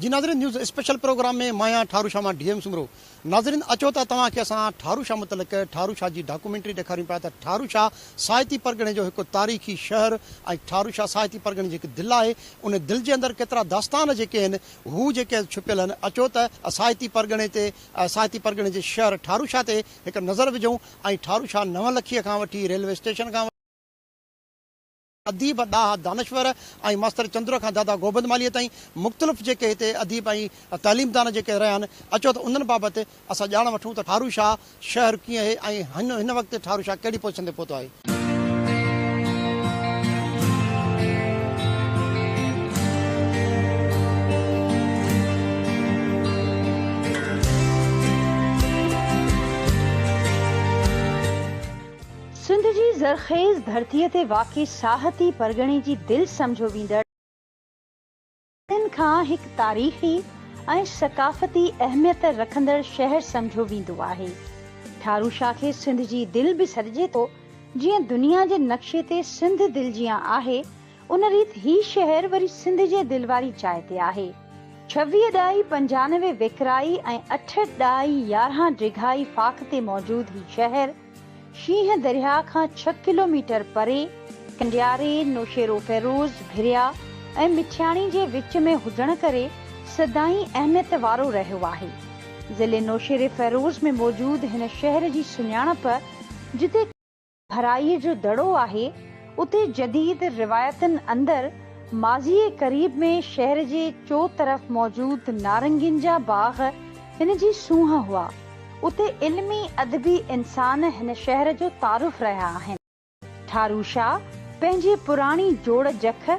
جي ناظرين news special programme ۾ مان آهيان ٺارو شاهه مان ڊي ايم سومرو ناظرين اچو ته توهان کي اسان ٺارو شاهه متعلق ٺارو شاهه جي ڊاڪومينٽري ڏيکاريون پيا ته ٺارو شاهه ساهتي پرڳڻي جو هڪ تاريخي شهر ۽ ٺارو شاهه ساهتي پرڳڻي جي هڪ دل آهي ان دل جي اندر ڪيترا داستان جيڪي آهن هو جيڪي آهن ڇپيل آهن اچو ته ساهتي پرڳڻي تي ساهتي پرڳڻي جي شهر ٺارو شاهه تي هڪ نظر وجهون ۽ ٺارو شاهه نون لکيء کان وٺي ريلوي اسٽيشن کان وٺي اديب ڏاها دانشور ۽ ماستر چندر کان دادا گوبند مالهيء تائين مختلف جيڪي هتي اديب ۽ تعليمدان جيڪي رهيا آهن اچو ته انهن بابت اسان ڄاڻ وٺون ته ٺارو شاهه شهر ڪيئن هي ۽ هن وقت ٺارو شاهه ڪهڙي پوزيشن تي پهتو آهي. سنڌ جي زرخيز ڌرتيء تي واقع ساهتي پرڳڻي جي دل سمجهيو ويندڙ، تن کان هڪ تاريخي ۽ ثقافتي اهميت رکندڙ شهر سمجهيو ويندو آهي. ٺارو شاهه کي سنڌ جي دل به سڏجي ٿو. جيئن دنيا جي نقشي تي سنڌ دل جيان آهي، ان ريت هي شهر وري سنڌ جي دل واري جاء تي آهي. ڇويهه ڏائي پنجانوي ويڪرائي ۽ اٺهٺ ڏائي يارهن ڊگهائي فاڪ تي موجود هي شهر، شينهن درياهه کان ڇهه ڪلوميٽر پري، ڪنڊياري، نوشهروفيروز، ڀريا ۽ مٺياڻي جي وچ ۾ هجڻ ڪري سدائين اهميت وارو رهيو آهي. ضلعي نوشهريفيروز ۾ موجود هن شهر جي سڃاڻپ جتي ڀرائي جو دڙو آهي، اتي جديد روايتن اندر ماضيء قريب ۾ شهر جي چوطرف موجود نارنگين جا باغ هن جي سونهن هئا. اتي علمي ادبي انسان هن شهر جو تعارف رهيا آهن. ٺارو شاهه پنهنجي پراڻي جوڙ جک،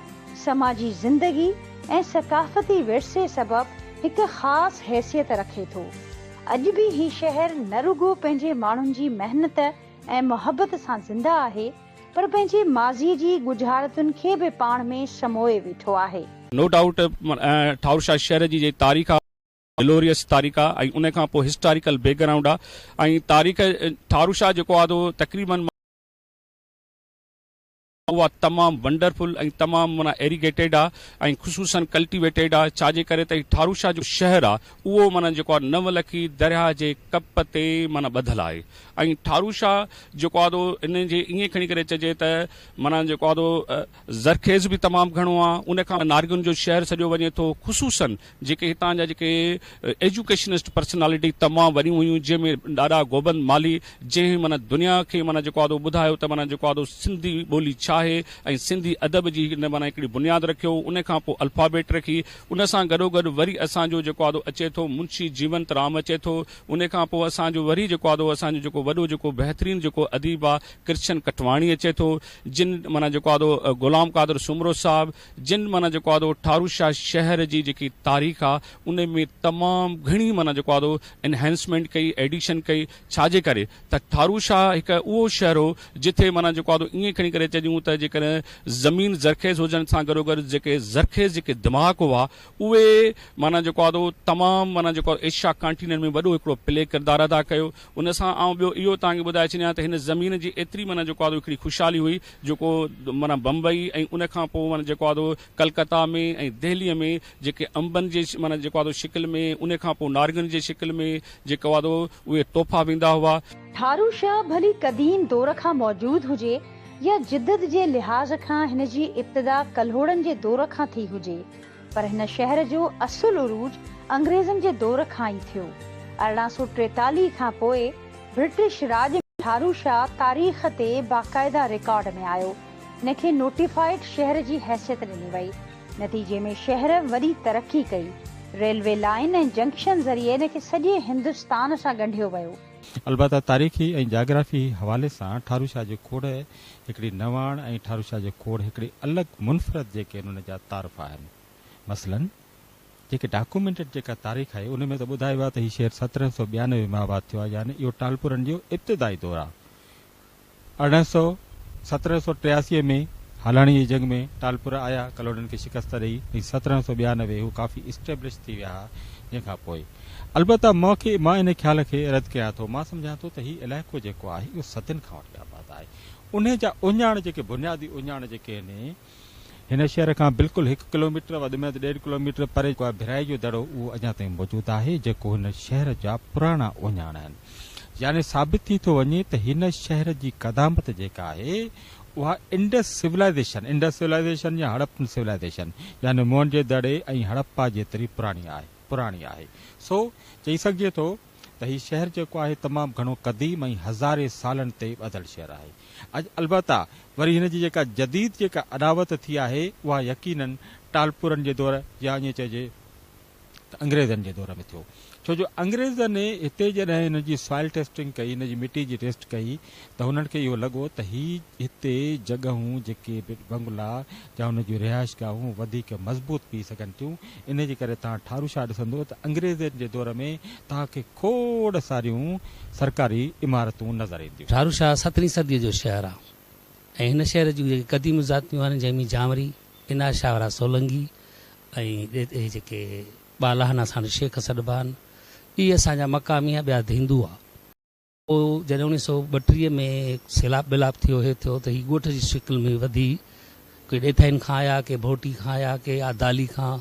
سماجي زندگي ۽ ثقافتي ورثي سبب هڪ خاص حيثيت رکي ٿو. اڄ به هي شهر نه رڳو پنهنجي ماڻهن جي محنت ۽ محبت سان زنده آهي پر پنهنجي ماضي جي ڳجهارتن کي به پاڻ ۾ سموئي ويٺو آهي. نو ڊائوٽ ٺارو شاهه شهر جي جيڪي تاريخ آهي. گلوريس تاريخ آ ۽ ان کان پوء هسٽاريڪل بيڪ گرائونڊ آ ۽ تاريخ ٺاروشاه جيڪو آ تو تقريبن اها تمام ونڊرفل ۽ تمام معنيٰ ايريگيٽيڊ آ ۽ خصوصن ڪلٽيويٽيڊ آ ڇا جي ڪري ته هي ٺاروشاه جو شهر آ اهو معنيٰ جيڪو آ نو لکي درياهه جي ڪپ تي معنيٰ ٻڌل آهي ۽ ٺاروشاه جيڪو آ تو ان جي ائين کڻي ڪري چئجي ته معنيٰ جيڪو آ تو زرخيز به تمام گهڻو آ ان کان نارگن جو شهر سڏيو وڃي ٿو خصوصاً جيڪي هتان جا جيڪي ايجوڪيشنسٽ پرسنالٽي تمام وڏيون هيون جنهن ۾ ڏاڏا گوبند مالهي جنهن معنيٰ دنيا کي معنيٰ جيڪو آ ٻڌايو ته معنيٰ جيڪو آ سنڌي ٻولي ڇا آهي ۽ سنڌي ادب جي هڪ معنيٰ هڪڙي بنياد رکيو ان کان پوء الفابيٽ رکي ان سان گڏوگڏ وري اسان جو جيڪو آ اچي ٿو منشي جيونت رام اچي ٿو ان کان پوء اسان جو وري جيڪو آ اسان جو جيڪو وڏو جيڪو بهترين جيڪو اديب آ ڪرشن ڪٽواڻي اچي ٿو، جن معنيٰ جيڪو آدو غلام قادر سومرو صاحب، جن معنيٰ جيڪو آدو ٺارو شاهه شهر جي جيڪي تاريخ آ ان ۾ تمام گهڻي معنيٰ جيڪو آدو انهانسمينٽ ڪئي، ايڊيشن ڪئي، ڇا جي ڪري ته ٺارو شاهه هڪ اهو شهر هو جٿي معنيٰ جيڪو آدو ائين کڻي ڪري چئجون ته جيڪڏهن زمين زرخيز هجڻ سان گڏوگڏ جيڪي زرخيز جيڪي دماغ هئا اهي معنيٰ جيڪو آدو تمام معنيٰ جيڪو آدو ايشيا ڪانٽيننٽ ۾ وڏو هڪڙو پلي ڪردار ادا ڪيو. ان سان آئون ٻيو اهو توهان کي ٻڌائي ڇڏيان ته هن زمين جي ايتري معنيٰ جيڪو آدو هڪڙي خوشحالي هئي جيڪو معنيٰ بمبئي ۽ ان کان پوء معنيٰ جيڪو آدو ڪلڪتا ۾ ۽ دهلي ۾ جيڪي انبن جي معنيٰ جيڪو آدو شڪل ۾ ان کان پوء نارنگن جي شڪل ۾ جيڪو آدو اهي تحفا ويندا هئا. ٿارو شاهه ڀلي قديم دور کان موجود هجي يا جدت جي لحاظ کان هن جي ابتدا ڪلهوڙن جي دور کان ٿي هجي، پر هن شهر جو اصل عروج انگريزن جي دور کان ئي ٿيو. ارڙهن سؤ ٽيتاليهه کان پوء برٽش راڄ ۾ ٺارو شاهه تاريخ تي باقاعده رڪارڊ ۾ آيو. هن کي نوٽيفائيڊ شهر جي حيثيت ڏني وئي. نتيجي ۾ شهر وڏي ترقي ڪئي. ريلوي لائين ۽ جنڪشن ذريعي هن کي سڄي هندستان سان ڳنڍيو ويو. البته تاريخي ۽ جاگرافي حوالي سان ٺارو شاهه جو کوڙ هڪڙي نواڻ ۽ ٺاروشاه جي کوڙ هڪڙي الڳ منفرد جي ڪين ان جا تعارف آهن. مثلاً جيڪي ڊاڪومينٽيڊ جيڪا تاريخ آهي ان ۾ ته ٻڌايو آهي ته هي شهر سترهن سؤ ٻيانوي ۾ آباد ٿيو آهي يعني اهو ٽالپرن جو ابتدائي دور آهي ارڙهن سؤ سترهن سؤ ٽياسي ۾ هالاڻي جي جنگ ۾ ٽالپر آيا ڪلهوڙن کي شڪست ڏئي ۽ سترهن سؤ ٻيانوي هو ڪافي اسٽيبلش ٿي ويا ها جنهن کان پوء البته مان کي مان ان خيال کي رد ڪيان ٿو مان سمجهان ٿو ته هي علائقو جيڪو آهي اهو صدين کان وٺي آباد آهي انهي جا اهڃاڻ جيڪي بنيادي اهڃاڻ جيڪي آهن هن شهر کان بلڪل هڪ ڪلوميٽر وڌ ۾ وڌ ڏيڍ ڪلوميٽر پري جيڪو ڀرائي جو دڙو اهو اڃا تائين موجود آهي جيڪو هن شهر جا پراڻا اهڃاڻ آهن يعني ثابت ٿي ٿو وڃي ته هن شهر جي قدامت جيڪا آهي اها انڊس سولائيزيشن Indus Civilization يا هڙپن سولائيزيشن يعني موهن جي دڙي ۽ هڙپا جيتري پراڻي آهي پراڻي آهي سو چئي سگهجي ٿو ته هي شهر جيڪو آهي تمام گهڻو قديم ۽ هزارين سالن تي ٻڌل شهر آهي. اڄ البته وري هن جي جيڪا جديد جيڪا اڏاوت ٿي آهي اها يقيناً ٽالپورن جي دور يا ائين چئجي ته انگريزن جي دور ۾ ٿيو ڇو جو انگريزن هتي جڏهن هن جي سوائل ٽيسٽنگ ڪئي هن جي مٽي جي ٽيسٽ ڪئي ته هنن کي اهو لڳو ته هي هتي جڳهون جيڪي به بنگلا يا انهن جون رهائشگاهون وڌيڪ مضبوط پئي سگهن ٿيون، انهيء جي ڪري توهان ٺارو شاهه ڏسندو ته انگريزن جي دور ۾ توهان کي کوڙ ساريون سرڪاري عمارتون نظر اينديون. ٺارو شاهه سترهين صديء جو شهر آهي ۽ هن شهر جون جيڪي قديم ذاتيون آهن جنهن ۾ جانوري، انار شاهه وارا سولنگي ۽ اهي جيڪي ٻالاهنا ساڻس شيخ سڏبا آهن، اهي اسان جا مقامي يا ٻيا هندو هئا. پوء جڏهن اڻيهه سؤ ٻٽيهه ۾ سيلاب ٻيلاب ٿيو هي ٿيو ته هي ڳوٺ جي شڪل ۾ وڌي ڪي ڏيٿائين کان آيا ڪي ڀوٽي کان آيا ڪي آدالي کان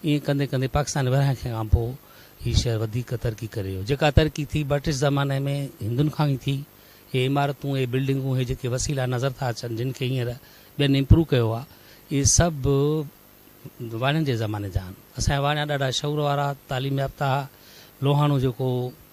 ائين ڪندي ڪندي پاڪستان ورهايڻ کان پوء هي شهر وڌيڪ ترقي ڪري ويو جيڪا ترقي ٿي برٽش زماني ۾ هندن کان ئي ٿي هي عمارتون هي بلڊنگون هي جيڪي وسيلا نظر ٿا اچن جن کي هينئر ٻين امپروو ڪيو آهي اهي سڀ واڻين جي زماني جا آهن اسان جا واڻيا ڏاڍا شعور وارا تعليم يافته هئا لوهاڻو جيڪو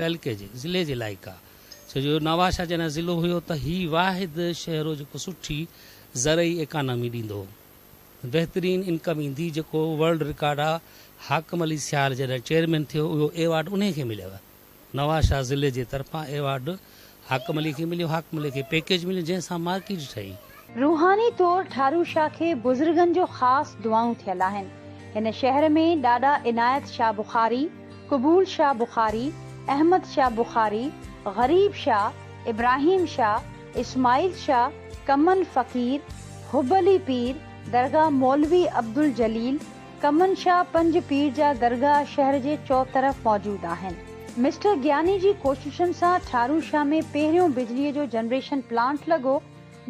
تعلقي جي ضلعي جي لائق آ ڇو جو نوابشاھ جڏھن ضلعو ھيو ته ھي واحد شھر ھو جيڪو سٺي زرعي ايڪانامي ڏيندو ھو بهترين انڪم ايندي جيڪو ورلڊ رڪارڊ آ حاڪم علي سيال جڏھن چيئرمين ٿيو اھو ايوارڊ انھي کي مليو نوابشاھ ضلعي جي طرفان ايوارڊ حاڪم علي کي مليو حاڪم علي کي پيڪيج مليو جنهن سان مارڪيٽ ٺهي. روحاني طور ٺارو شاهه کي بزرگن جو خاص دعائون ٿيل آهن. هن شهر ۾ ڏاڏا عنايت شاهه بخاري، قبول شاهه بخاري، احمد شاهه بخاري، غريب شاهه، ابراهيم شاهه، اسماعيل شاهه، ڪمن فقير، حب علي پير، درگاهه مولوي عبدالجليل، ڪمن شاهه پنج پير جا درگاهه شهر جي چؤطرف موجود آهن. مسٽر گياني جي ڪوششن سان ٺارو شاهه ۾ پهريون بجلي جو جنريشن پلانٽ لڳو،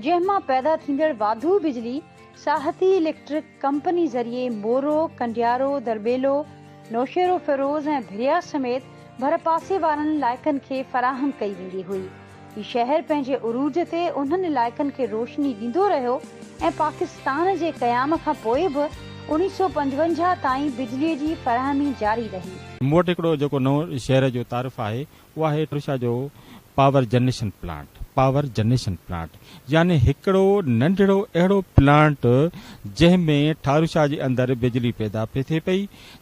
جنهن مان پيدا ٿيندڙ واڌو بجلي ساهتي اليڪٽرڪ ڪمپني ذريعي مورو، ڪنڊيارو، درٻيلو، نوشهروفيروز ۽ ڀريا سميت ڀرپاسي وارن علائقن کي فراهم ڪئي ويندي هئي. هي شهر پنهنجي عروج تي انهن علائقن کي روشني ڏيندو رهيو ۽ پاڪستان جي قيام کان پوء به اوڻيهه سؤ پنجونجاهه تائين بجلي جي فراهمي جاري رهي. مون وٽ هڪڙو جيڪو نئون شهر جو تعارف آهي اهو آهي ٽرشا جو power generation plant, Power Generation Plant، يعني هڪڙو ننڍڙو اهڙو پلانٽ جنهن ۾ ٺاروشا جي اندر بجلي پيدا پئي ٿئي پئي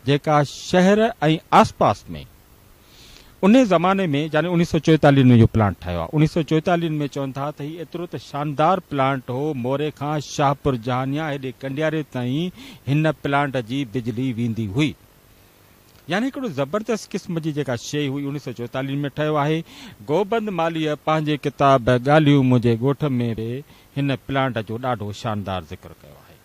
جيڪا شهر ۽ آسپاس ۾ انهي زماني ۾ يعني اوڻيھ سؤ چوئيتاليھن ۾ اهو پلانٽ ٺاهيو آهي اوڻيھ سؤ چوئيتاليھن ۾ چون ٿا ته هي ايترو ته شاندار پلانٽ هو موري کان شاهپور جهانيان هيڏي ڪنڊياري تائين هن پلانٽ جي بجلي ويندي هئي يعني هڪڙو زبردست قسم جي جيڪا شيء هئي اوڻيھ سؤ چوئيتاليھن ۾ ٺهيو آهي گوبند مالهيء پنهنجي ڪتاب ڳالهيون منهنجي ڳوٺ ۾ به هن پلانٽ جو ڏاڍو شاندار ذڪر ڪيو آهي.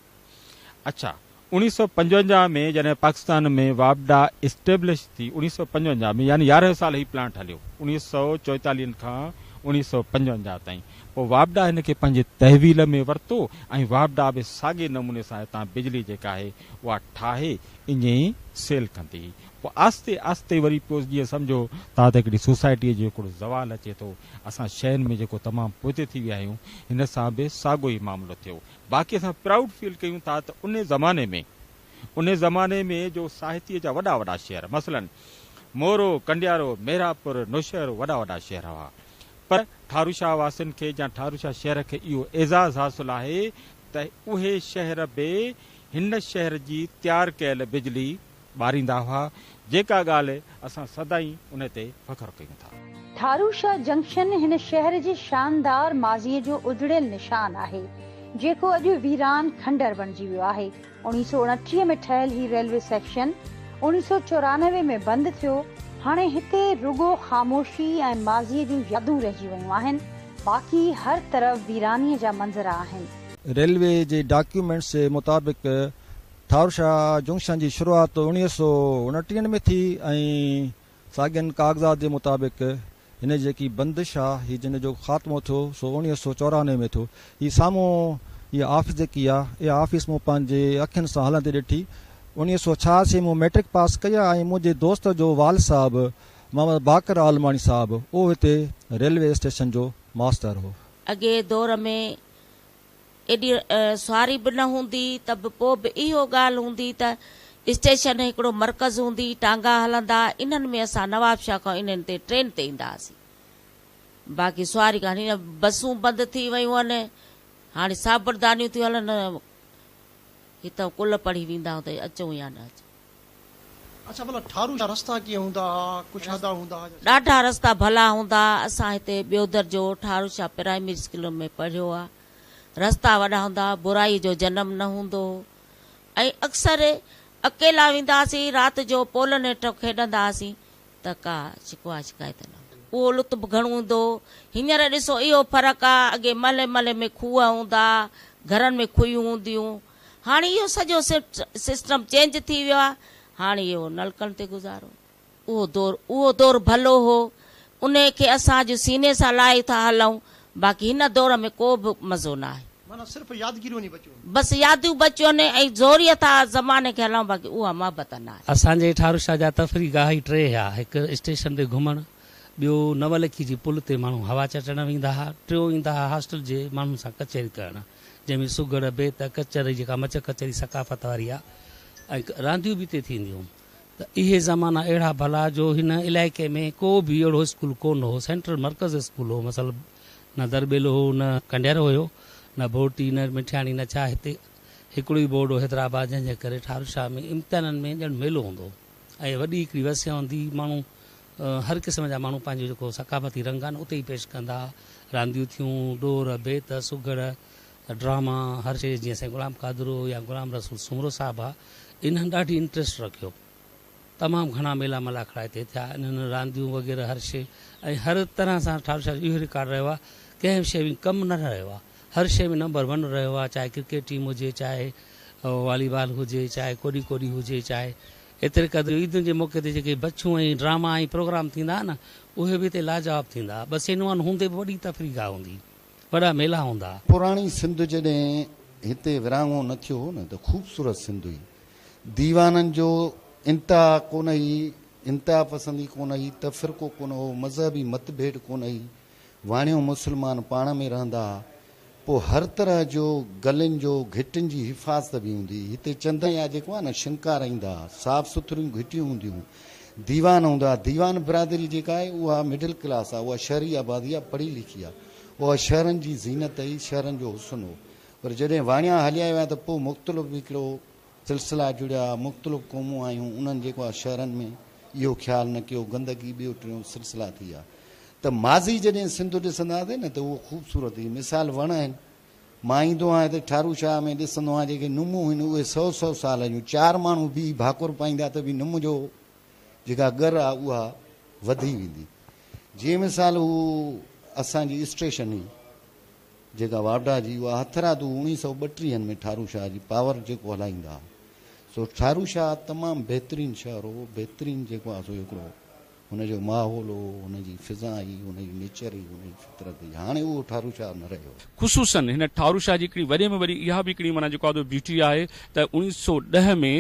اڇا اوڻيھ سؤ پنجونجاھ ۾ جڏهن پاڪستان ۾ واپڊا اسٽيبلش ٿي اوڻيھ سؤ پنجونجاھ ۾ يعني يارنهن سال هي پلانٽ هليو اوڻيھ سؤ چوئيتاليهن کان اوڻيھ سؤ پنجونجاھ تائين پوء واپڊا هن کي پنهنجي تحويل ۾ ورتو ۽ واپڊا به ساڳي نموني سان هتان بجلي جيڪا آهي اها ٺاهي اڃي سيل ڪندي هئي پوء آستي آستي وري پيو جيئن سمجهو تان ته هڪڙي سوسائٽي جو هڪڙو زوال اچي ٿو اسان شين ۾ جيڪو تمام پوئتي ٿي ويا آهيون هن سان به ساڳو ئي معاملو ٿيو باقي اسان پرائوڊ فيل ڪيون ٿا ته انهي زماني ۾ انهي زماني ۾ جو ساهتيء جا وڏا وڏا شهر مثلاً مورو، ڪنڊيارو، مهراپور، نوشهرو وڏا وڏا شهر هئا پر ٺاروشاه واسين کي يا ٺاروشاه شهر کي اهو اعزاز حاصل آهي ته اهي شهر به هن شهر جي تيار ڪيل بجلي ٻاريندا هئا، جيڪا ڳالهه اسان سدائين ان تي فخر ڪيون ٿا. ٿارو شاهه جنڪشن هن شهر جي شاندار ماضيء جو اجڙيل نشان آهي، جيڪو اڄ ويران کنڊر بڻجي ويو آهي. اوڻيهه سؤ اڻٽيهه ۾ ٺهيل هي ريلوي سيڪشن اوڻيهه سؤ چورانوي ۾ بند ٿيو. هاڻي هتي رڳو خاموشي ۽ ماضيء جون يادون رهجي ويون آهن، باقي هر طرف ويرانيء جا منظر آهن. ريلوي جي ڊاڪيومينٽس مطابق، ٺاروشاه جنڪشن جي شروعات اوڻيهه سؤ اڻٽيهن ۾ ٿي ۽ ساڳين ڪاغذات جي مطابق هن جيڪي بندش آ هي جنهن جو خاتمو ٿيو سو اوڻيهه سؤ چورانوي ۾ ٿيو هي سامهون هي آفيس جيڪي آ اها آفيس مون پنهنجي اکين سان هلندي ڏٺي اوڻيهه سؤ ڇهاسي مون مئٽرڪ پاس ڪئي ۽ منهنجي دوست جو والد صاحب محمد باقر عالماڻي صاحب اهو هتي ريلوي اسٽيشن جو ماستر هو. اڳئين دور ۾ ايڏي سواري به نه هوندي ته به پوء به اهو ڳالهه هوندي ته اسٽيشن هڪڙو مرڪز هوندي، ٽانگا هلندا، انهن ۾ اسان نوابشاهه کان انهن تي ٽرين تي ايندا هئاسين. باقي سواري ڪا نه. بسون بند ٿي ويون هن، هاڻي سابردانيون ٿيون هلن. هتان ڪل پڙهي ويندا هئا ته اچون يا نه اچون. اڇا ڀلا ٺارو جا رستا ڪيئن هوندا ها ڪجھ هدا هوندا ها. ڏاڍا رستا ڀلا هوندا ها اسان هتي ٻيو درجو ٺاروشاه پرائمري اسڪول ۾ پڙهيو ها رستا وڏا هوندا ها برائي جو جنم نه هوندو هو ۽ اڪثر اڪيلا ويندا هاسين رات جو پولن هيٺ کيڏندا هاسين ته ڪا شڪوا شڪايت نه هوندي هئي اهو لطف گهڻو هوندو هو هينئر ڏسو اهو فرق ها اڳي محلي محلي ۾ کوهه هوندا ها گهرن ۾ کوهيون هونديون هون. هاڻ اهو سڄو سسٽم چينج ٿي ويو آهي، هاڻ اهو نلڪن تي گذارو. اهو دور اهو دور ڀلو هو، انهيء کي اسان اڄ سيني سان لاهي ٿا هلئون، باقي هن دور ۾ ڪو به مزو ناهي. معنيٰ صرف يادگيريون ئي بچيون آهن. بس يادون بچيون آهن ۽ زوريء ٿا زماني کي هلائون، باقي اها محبت ناهي. اسان جي ٺاروشاه جا تفريح گاهه ئي ٽي هيا، هڪ اسٽيشن تي گهمڻ، ٻيو نولکي جي پل تي ماڻهو هوا چٽڻ ويندا ها، ٽيون ايندا ها هاسٽل جي ماڻهن سان ڪچهري ڪرڻ. جنهن ۾ سگهڙ، بيت، ڪچهري جيڪا مچ ڪچهري ثقافت واري آ ۽ رانديون به اتي ٿينديون ته اهي زمانا اهڙا ڀلا جو هن علائقي ۾ ڪو به اهڙو اسڪول ڪونه هو سينٽرل مرڪز اسڪول هو مثل نه درٻيلو هو نه ڪنڍير هيو نه ڀورٽي نه مٺياڻي نه ڇا هتي هڪڙو ئي بورڊ هو حيدرآباد جنهن جي ڪري ٺاروشاه ۾ امتحانن ۾ ڄڻ ميلو هوندو هو ۽ وڏي هڪڙي وسيع هوندي ماڻهو هر قسم جا ماڻهو پنهنجو جيڪو ثقافتي رنگ آهي نه اتي ئي پيش ڪندا. رانديون ٿيون، ڏور، بيت، سگهڙ، ڊراما، هر شيء جيئن سائين غلام قادر هو يا غلام رسول سومرو صاحب ها، انهن ڏاڍي انٽريسٽ رکيو. تمام گهڻا ميلا ملاکڙا هتي ٿيا. انهن رانديون وغيره هر شيء ۽ هر طرح سان ٺار شاهه جو اهو رڪارڊ رهيو آهي ڪنهن به شيء ۾ ڪم نه رهيو آهي. هر شيء ۾ نمبر ون رهيو آهي چاهي ڪرڪيٽ ٽيم هجي، چاهي والي بال هجي، چاهي ڪوڏي ڪوڏي هجي، چاهي ايتري قدر جو عيدن جي موقعي تي جيڪي بڇون ۽ ڊراما ۽ پروگرام ٿيندا ها نه اهي به هتي لاجواب ٿيندا. ٻسين نوان هوندي به وڏي تفريح گاهه هوندي. وڏا ميلا هوندا. پراڻي سنڌ جڏهن هتي ورهاڱو نه ٿيو هو نه ته خوبصورت سنڌ هئي. ديوانن جو انتها ڪونه هئي، انتها پسندي ڪونه هئي، تفرقو ڪونه هو، مذهبي متڀيد ڪونه هئي. واڻيو مسلمان پاڻ ۾ رهندا ها پوء هر طرح جو گلين جو گهٽين جي حفاظت به هوندي هئي هتي چندن يا جيڪو آهي نه شنڪار ايندا ها صاف سٿريون گهٽيون هونديون هيون ديوان هوندا ها ديوان برادري جيڪا آهي اها مڊل ڪلاس آهي اها شهري آبادي آهي پڙهي لکي آهي اها شهرن جي زينت هئي شهرن جو حسن هو پر جڏهن واڻيا هليا ويا ته پوء مختلف هڪڙو سلسلا جڙيا مختلف قومون آيون انهن جيڪو آ شهرن ۾ اهو خيال نه ڪيو گندگي ٻيو ٽيون سلسلا ٿي آ ته ماضي جڏهن سنڌ ڏسنداسين نه ته اهو خوبصورت هي مثال وڻ آهن مان ايندو آهيان هتي ٺارو شاهه ۾ ڏسندو آهيان جيڪي نمون هن اهي سو سو سال جون چار ماڻهو بيهي ڀاڪر پائيندا ته به نم جو جيڪا ڳر آ اها وڌي ويندي جي مثال هو اسان جي اسٽيشن هي جيڪا واڊا جي اها هٿرادو اوڻيهه سؤ ٻٽيهن ۾ ٺارو شاهه جي پاور جيڪو هلائيندا ها سو ٺارو شاهه تمام بهترين شهر هو بهترين جيڪو ها سو هڪڙو هن جو ماحول هو هن جي فضا هئي هن جي نيچر هئي هن جي فطرت هئي هاڻي اهو ٺارو شاهه نه رهيو. خصوصن هن ٺارو شاهه جي هڪڙي وڏي ۾ وڏي اها به هڪڙي معنيٰ جيڪو ها سو بيوٽي آهي ته اوڻيهه سؤ ڏهه ۾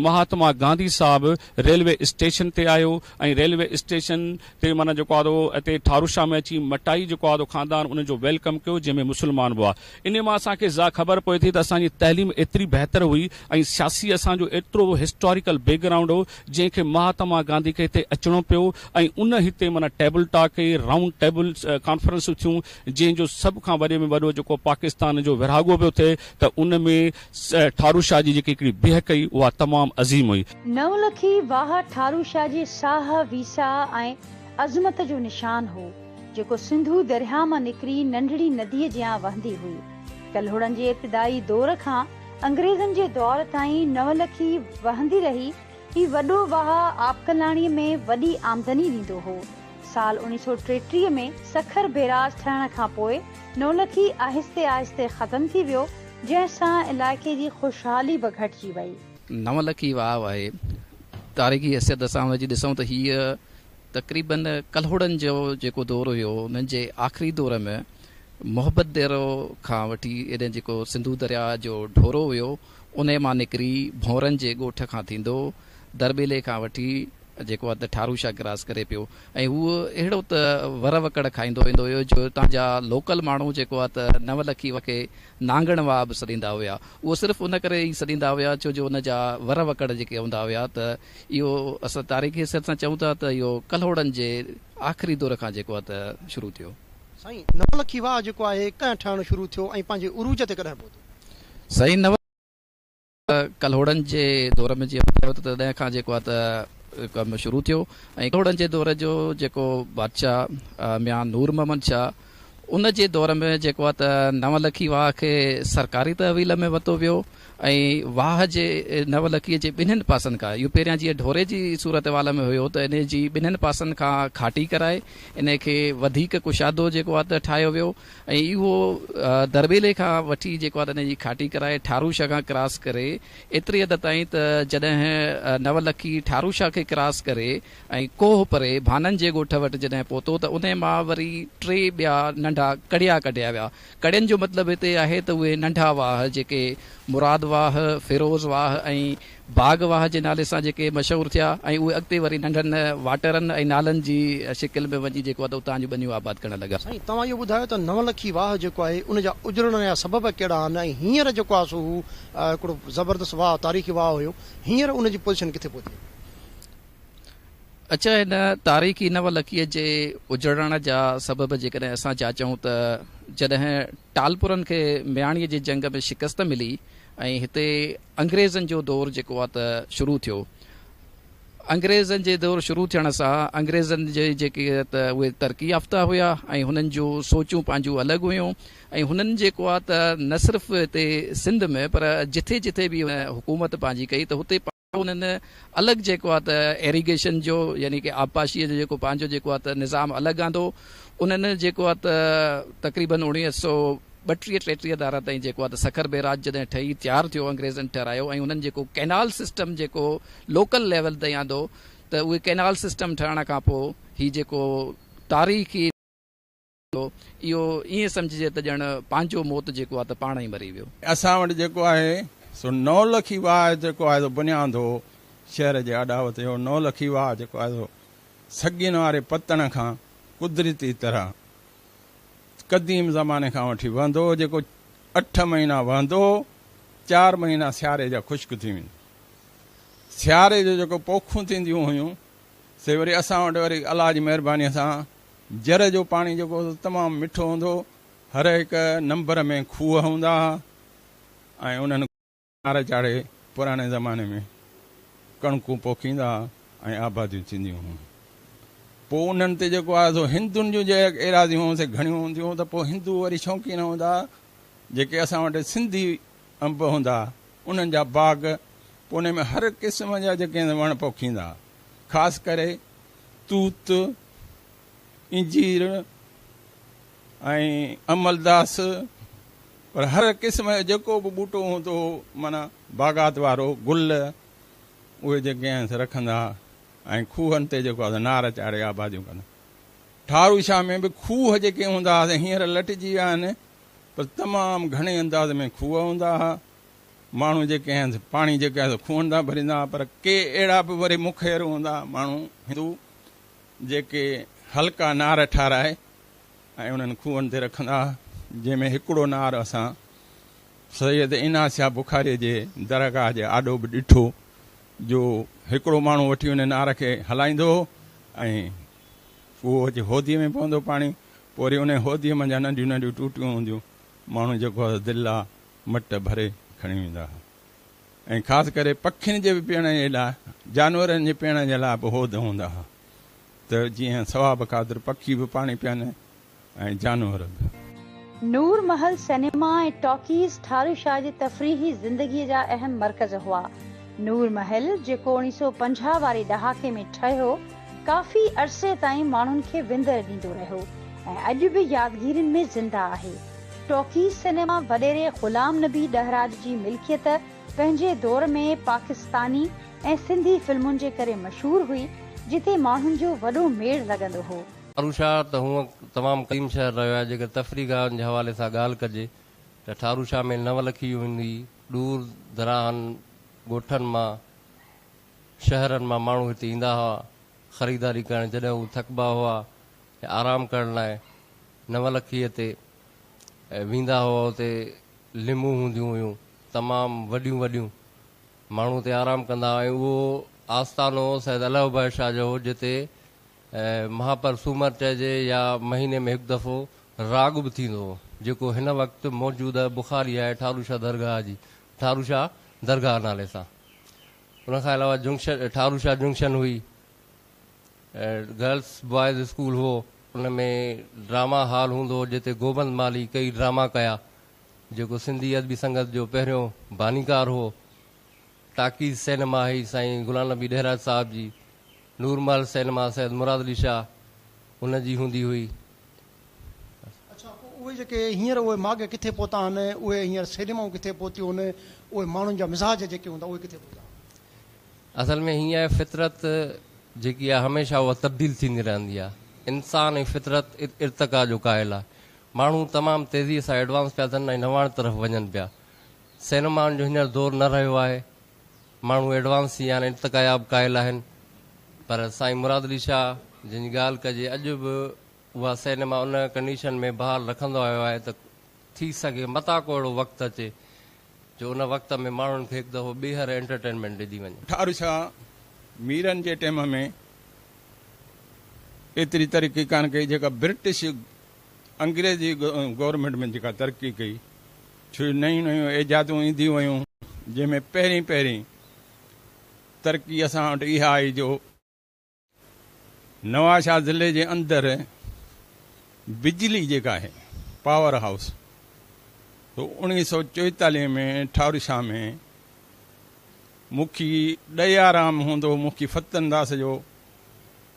مهاتما گانڌي صاحب ريلوي اسٽيشن تي آيو ۽ ريلوي اسٽيشن تي معنيٰ جيڪو آدو اتي ٺاروشاه ۾ اچي مٽائي جيڪو آدو خاندان انهن جو ويلڪم ڪيو جنهن ۾ مسلمان به هئا انهي مان اسان کي اها خبر پوي ٿي ته اسان جي تعليم ايتري بهتر هئي ۽ سياسي اسان جو ايترو هسٽاريڪل بيڪ گرائونڊ هو جنهن کي مهاتما گانڌي کي هتي اچڻو پيو ۽ ان هتي معنيٰ ٽيبل ٽاڪ ڪئي رائونڊ ٽيبل ڪانفرنسون ٿيون جنهن جو سڀ کان وڏي ۾ وڏو جيڪو پاڪستان جو ورهاڳو پيو ٿئي ته ان ۾ ٺارو شاهه جي جيڪي هڪڙي بيهڪ هئي اها تمام عظيم هئي. نولکي واهه ٺارو شاهه جي ساهه، ويساهه ۽ عظمت جو نشان هو، جيڪو سنڌو درياهه مان نڪري ننڍڙي نديء جيان وهندي هئي. ڪلهوڙن جي ابتدائي دور کان انگريزن جي دؤر تائين نولکي وهندي رهي. هي وڏو واهه آبڪلاڻيء ۾ وڏي آمدني ڏيندو هو. سال اوڻيھ سؤ ٽيٽيهه ۾ سکر بيراج ٺهڻ کان پوء نولکي آهستي آهستي ختم ٿي ويو، جنهن سان علائقي جي خوشحالي به گهٽجي وئي. نولکي واهه آهي. تاريخي حيثيت سان هن جي ڏسون ته هيء تقريبن ڪلهوڙن جو جيڪو دور هيو، ان جي آخري دور ۾ محبت ديرو کان وٺي هيڏانهن جيڪو سنڌو درياء جو ڍورو هيو، انهيء مان نڪري ڀونرن جي ڳوٺ کان ٿيندو درٻيلي کان وٺي جيڪو هٿ ٺاروشا ڪراس ڪري پيو ۽ هو اهڙو ته ور وڪڙ کائيندو ويندو هيو جو اتان جا لوڪل ماڻهو جيڪو آهي ته نو لکي وکي نانگڻ واهه به سڏيندا هيا اهو صرف ان ڪري ئي سڏيندا هيا ڇو جو ان جا ور وڪڙ جيڪي هوندا هيا ته اهو اسان تاريخي حيثيت سان چئون ٿا ته اهو ڪلهوڙن جي آخري دور کان جيڪو آهي ته شروع ٿيو. سائين نو لکي واهه جيڪو آهي ڪڏهن ٺهڻ شروع ٿيو ۽ پنهنجي عروج تي ڪڏهن پهتو؟ سائين نو ڪلهوڙن جي دور ۾ جيئن ٻڌايو ته تڏهن کان جيڪو آهي ته ڪم شروع ٿيو ۽ ڪلهوڙن جي دور جو جيڪو بادشاهه ميان نور محمد شاهه ان جي دور ۾ جيڪو آهي ته نو لکي واهه کي سرڪاري تحويل ۾ ورتو ويو ۽ واهه جي نو لکي جي ٻنهين پاسن کان اهو پهريان جيئن ڍوري جي صورتحوال ۾ هيو ته ان جي ٻنهين پاسن کان کاٽي ڪرائي ان کي وڌيڪ ڪشادو جيڪو آهي ته ٺاهيو ويو ۽ اهو درٻيلي کان وٺي جيڪو آهي ته ان جي کاٽي ڪرائي ٺارو شاهه کان ڪراس ڪري ايتري حد تائين ته جڏهن نو لکي ٺارو شاهه کي ڪراس ڪري ۽ ڪوهه پري ڀانن جي ڳوٺ وٽ جڏهن پهتو ته انهي مان وري ٽي ٻيا ننڍا ڪڙيا ڪڍيا ويا. ڪڙين جو مطلب هتي آهي ته اهي ننڍا واهه جيڪي مراد واهه، فيروز واهه ۽. باغ واهه جي نالي سان جيڪي مشهور ٿيا ۽ اهي اڳتي وري ننڍن واٽرن ۽ نالن جي شڪل ۾ وڃي جيڪو اٿو اتان جون ٻنيون آباد ڪرڻ لڳا. سائين توهان اهو ٻڌايو ته نون لکي واهه جيڪو آهي ان جا اجڙڻ جا سبب ڪهڙا آهن ۽ هينئر جيڪو آهي سو هو هڪڙو زبردست واهه تاريخي واهه هيو هينئر ان جي پوزيشن ڪٿي پهتي آهي. اچا هن تاريخي نون لکي جي اجڙڻ جا سبب جيڪڏهن اسان جاچون ته جڏهن ٽالپرن کي مياڻيء جي جنگ ۾ شڪست ملي ۽ هتي انگريزن جو دور جيڪو آهي ته شروع ٿيو. انگريزن جي دور شروع ٿيڻ سان انگريزن جي جيڪي آهي ته اهي ترقي يافته هيا ۽ هنن جون سوچون پنهنجون الڳ هيون ۽ هنن جيڪو آهي ته نه صرف هتي سنڌ ۾ پر جٿي جٿي به حڪومت پنهنجي ڪئي ته هتي انهن الڳ جيڪو آهي ته ايريگيشن جو يعني ڪي آبپاشيء جو جيڪو پنهنجو جيڪو آهي ته نظام الڳ آندو. انهن جيڪو آهي ته تقريباً اوڻيهه سؤ ٻٽيهه ٽيٽيهه ڌارا تائين جيڪو آهي ته سکر بيراج جڏهن ٺهي تيار ٿيو انگريزن ٺهرايو ۽ انهن جيڪو ڪئنال سسٽم جيڪو لوڪل ليول تائين آندو ته اهي ڪئنال سسٽم ٺهرائڻ کان پوء هي جيڪو تاريخي ٿو، اهو ائين سمجهجي ته ڄڻ پنهنجو موت جيڪو آهي ته پاڻ ئي مري ويو. اسان وٽ جيڪو آهي سو نولکي واهه جيڪو آهي سو بنياندو شهر جي آڏاوت اهو نولکي واهه جيڪو آهي سو سڳين واري پتڻ کان قدرتي طرح قديم زماني کان وٺي وهندو هو جيڪو اٺ مهينا وهندو هو چار مهينا سياري جا خشڪ ٿي ويندو سياري جو جيڪو پوکون ٿينديون هيون سي وري اسان وٽ وري الله جي مهرباني سان جر جو پاڻي جيڪو هوندو تمام مٺو هوندو هو هر هڪ نمبر ۾ کوهه هوندا ها ۽ انهن کنار چاڙهي پراڻي زماني ۾ ڪڻڪون پوکيندا ها ۽ آباديون ٿينديون هيون پوء انهن تي جيڪو آهي سو هندن جون جي ايراضيون هون سي گهڻيون هونديون هون ته پوء هندو وري شوقين هوندا ها جيڪي اسان وٽ سنڌي انب هوندا ها انهن جا باغ پوء انهن ۾ هر قسم جا جيڪي وڻ پوکيندا ها خاص ڪري توت انجير ۽ عملداس پر هر قسم جو جيڪو به ٻوٽو هوندو هو معنيٰ باغات وارو گل اهي جيڪي آهن رکندا ۽ کوهن تي جيڪو آهي نار چاڙهي آباديون ڪندا. ٺارو شاهه ۾ به کوهه جيڪي هوندا هئا سي هينئر لٽجي ويا آهن پر تمام گهڻي انداز ۾ کوهه هوندا هئا. ماڻهو جيڪي آهن سي پاڻي جيڪي آهي سو کوهن تان ڀريندا هئا پر ڪي اهڙا به وري مخير هوندا هئا ماڻهو هندو جيڪي هلڪا نار ٺاهرائي ۽ انهن کوهن تي رکندا ها، جنهن ۾ هڪڙو نار اسان سيد عينا شاهه بخاريء جي درگاهه جي آڏو به ڏٺو، جو هڪڙو ماڻهو وٺي ان نار کي هلائيندو هو ۽ کوهه جي هوديء ۾ پوندو پاڻي، پوء وري انهيء هوديء منجهان ننڍيون ننڍيون ٽوٽيون هونديون، ماڻهو جيڪو هو سو دلا مٽ ڀري کڻي ويندا ها. ۽ خاص ڪري پکين جي به پيئڻ جي لاء جانورن جي پيئڻ جي لاء به حوض هوندا هئا ته جيئن ثواب خاطر پکي به پاڻي پيئن ۽ جانور به. نور محل سئنيما ۽ ٽاڪيز ٺارو شاهه جي تفريحي زندگيء جا اهم مرڪز هئا. نور محل، جيڪو اوڻي سؤ پنجاهه واري ڏهاڪي ۾ ٺهيو، ڪافي عرصي تائين ماڻهن کي وندر ڏيندو رهيو ۽ اڄ به يادگيرين ۾ زنده آهي. ٽوڪي سئنيما وڏيري غلام نبي ڏهراج جي ملڪيت پنهنجي دور ۾ پاڪستاني ۽ سنڌي فلمن جي ڪري مشهور هئي جتي ماڻهن جو وڏو ميڙ لڳندو هو. ٺاروشاهه ته هونء تمام قديم شهر رهيو آهي، جيڪڏهن تفريح گاهن جي حوالي سان ڳالهه ڪجي ته ٺاروشاهه ۾ نو لکي يون هوندي، ڏور دراهن ڳوٺن مان، شهرن مان ماڻهو هتي ايندا هئا خريداري ڪرڻ جڏهن هو ٿڪبا هئا يا آرام ڪرڻ لاء، نولکيء تي ويندا هئا، اتي ليمون هونديون هيون، تمام وڏيون وڏيون، ماڻهو اتي آرام ڪندا هئا ۽ اهو آستانو سيد الهه بخش شاهه جو هو، جتي مهاپر سومر چئجي يا مهيني ۾ هڪ دفعو راڳ به ٿيندو هو، جيڪو هن وقت موجوده بخاري آهي ٺارو شاهه درگاهه جي ٺارو شاهه درگاهه نالي سان. ان کان علاوه جنڪشن ٺارو شاهه جنڪشن هئي، گرلس بوائز اسڪول هئو ان ۾ ڊراما هال هوندو هو جتي گوبند مالهي ڪيئي ڊراما ڪيا جيڪو سنڌي ادبي سنگت جو پهريون بانيڪار هئو ٽاڪيز سئنيما هئي سائين غلام نبي ڏهراج صاحب جي نور محل سئنيما سيد مراد علي شاهه ان جي هوندي هئي. اڇا پوء اهي جيڪي هينئر اهي ماڳ ڪٿي پهتا آهن اهي هينئر سئنيمائون ڪٿي پهتيون آهن اهي ماڻهن جا مزاج جيڪي هوندا اهي ڪٿي پهتا آهن. اصل ۾ هيء فطرت جيڪي آهي هميشه اها تبديل ٿيندي رهندي آهي. انسان ۽ فطرت ارتقا جو قائل آهي. ماڻهو تمام تيزيء سان ايڊوانس پيا ٿين ۽ نواڻ طرف وڃن پيا. سينمائن جو هينئر دور نه رهيو آهي. ماڻهو ايڊوانس ٿي ويا آهن، ارتقاياب قائل آهن. پر سائين مراد علي شاهه جنهن جي ڳالهه ڪجي اڄ به اها سينما ان ڪنڊيشن ۾ بحال رکندو آيو آهي ته ٿي سگهي متان ڪو اهڙو وقت اچي جو ان وقت ۾ ماڻهن کي هڪ دفعو ٻيهر انٽرٽينمينٽ ڏني وڃي. ٺار شاهه ميرن جي ٽيم ۾ ايتري ترقي ڪانه ڪئي جيڪا برٽش انگريزي گورنمينٽ ۾ جيڪا ترقي ڪئي ڇو جو نيون نيون ايجادون اينديون ويون جنهن ۾ پهرين پهرين ترقي اسان وٽ اها آئي جو نوابشاهه ضلعي جي اندر بجلي جيڪا آهي پاور هائوس سو اوڻيهه سؤ چويتاليهه ۾ ٺار شاهه ۾ مکي ڏيارام هوندو مکي فتن داس جو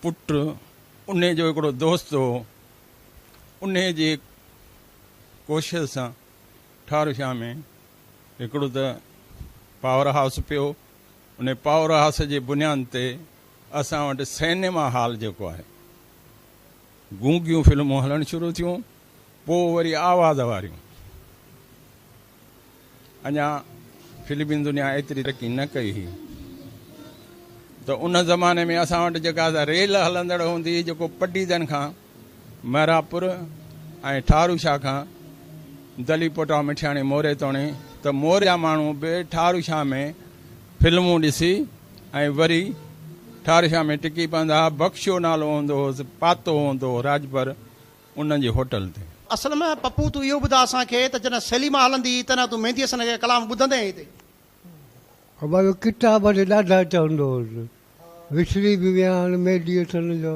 پٽ ان جو هڪڙو دوست هو ان جي ڪوشش سان ٺار شاهه ۾ هڪڙو ته پاور هائوس پيو ان پاور هائوس جي بنياد تي اسان وٽ سئنيما هال جيڪو آهي گونگيون فلمون هلڻ شروع ٿيون پوء وري آواز واريون اڃا فلمي دنيا ايتري ترقي نه ڪئي هئي ته ان زماني ۾ اسان وٽ جيڪا ريل هلندڙ هوندي هئي جيڪو پڊيدن کان مهراپور ۽ ٺاهرو شاهه کان دلي پوٽا مٺياڻي موري توڻي ته موري جا ماڻهو به ٺاهرو شاهه ۾ فلمون ڏسي ۽ وري ٺاهرو شاهه ۾ ٽڪي پوندا ها. بخشو نالو هوندو هوس، پاتو هوندو هو راڄپر ان جي هوٽل تي. اصل ۾ پپو تون اهو ٻڌاء اسان کي ته جڏهن سيليما هلندي هئي تڏهن تون ميندي حسن جا ڪلام ٻڌندين هئين تي. ابا جو ڪتاب اڏي ڏاڍا چوندو هوس. وسري به ويا هاڻي ميندي حسن جو.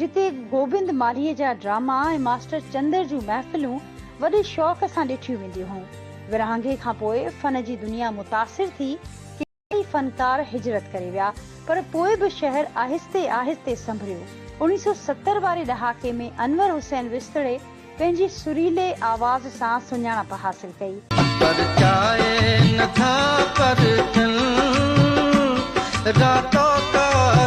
جتي گوبند مالهيء جا ڊراما ۽ ماسٽر چندر جون محفلون وڏي شوق سان ڏٺيون وينديون هيون. ورهاڱي کان پوء فن جي دنيا متاثر ٿي، ڪيترائي فنڪار هجرت ڪري ويا، پر پوء به شهر آهستي آهستي سنڀريو. اڻيهه سؤ ستر واري ڏهاڪي ۾ انور حسين وسطڙي پنهنجي سريلي آواز سان سڃاڻپ حاصل ڪئي. پرچائي نه ٿا پرچن راتو ڪار.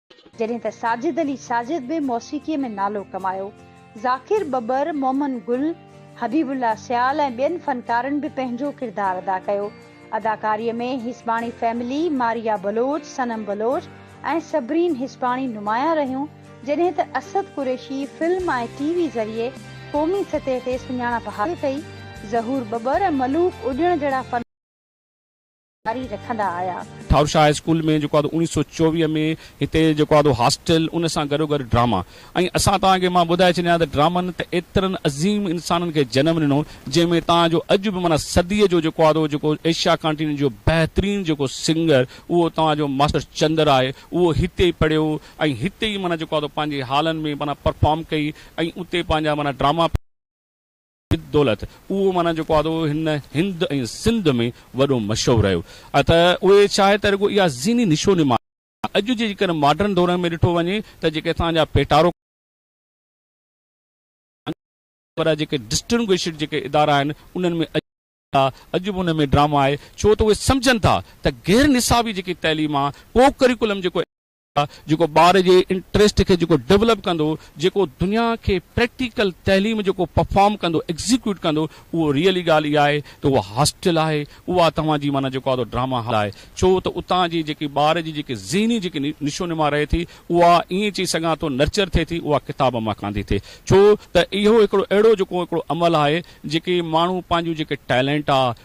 جڏهن ته ساجد علي ساجد به موسيقيء ۾ نالو ڪمايو. ذاڪر ٻٻر، مومن گل، حبيب الله سيال ۽ ٻين فنڪارن به پنهنجو ڪردار ادا ڪيو. اداڪاريء ۾ حسباڻي فيملي، ماريا بلوچ، صنم بلوچ ۽ صبرين حسباڻي نمايان رهيون، جڏهن ته Asad Qureshi film ۽ T V ذريعي قومي سطح تي سڃاڻپ حاصل ڪئي. ظهور ٻٻر ۽ ملوڪ اڏيڻ جهڙا فنڪار. جاري رکندا آيا. ٺاروشاه هاء اسڪول ۾ جيڪو آهي اوهان کي اوڻيهه سؤ چوويهه ۾ هتي جيڪو آهي هاسٽل ان سان گڏو گڏ ڊراما ۽ اسان توهان کي مان ٻڌائي ڇڏيان ته ڊرامن ته ايترن عظيم انسانن کي جنم ڏنو جنهن ۾ توهان جو اڄ به معنيٰ صديء جو جيڪو آهي جيڪو ايشيا ڪانٽيننٽ جو بهترين جيڪو سنگر اهو توهان جو ماسٽر چندر آهي اهو هتي ئي پڙهيو ۽ هتي ئي معنيٰ جيڪو آهي پنهنجي هالن ۾ معنيٰ پرفارم ڪئي ۽ اتي پنهنجا معنيٰ ڊراما سيد دولت اهو معنيٰ جيڪو آدو هن هند ۽ سنڌ ۾ وڏو مشهور رهيو آ ته اهي چاهي ته رڳو اها ذهني نشو نما آ اڄ جي جيڪڏهن ماڊرن دورن ۾ ڏٺو وڃي ته جيڪي اتان جا پيٽارو وڏا جيڪي ڊسٽنگوشڊ جيڪي ادارا آهن انهن ۾ اڄ اڄ به ان ۾ ڊراما آهي ڇو ته اهي سمجهن ٿا ته غير نصابي جيڪي تعليم آ ڪو ڪريڪولم جيڪو. جيڪو ٻار جي انٽريسٽ کي جيڪو ڊولپ ڪندو، جيڪو دنيا کي پريڪٽيڪل تعليم جيڪو پرفارم ڪندو، ايگزيڪيوٽ ڪندو، اهو ريئلي ڳالهه اها آهي ته اها هاسٽل آهي، اها توهان جي معنيٰ جيڪو آهي ڊراما هال آهي، ڇو ته اتان جي جيڪي ٻار جي جيڪي ذهني جيڪي نشو نما رهي ٿي، اها ائين چئي سگهان ٿو نرچر ٿئي ٿي، اها ڪتاب مان ڪانه ٿي ٿئي، ڇو ته اهو هڪڙو اهڙو جيڪو هڪڙو عمل آهي، جيڪي ماڻهو پنهنجون جيڪي ٽيلنٽ آهي،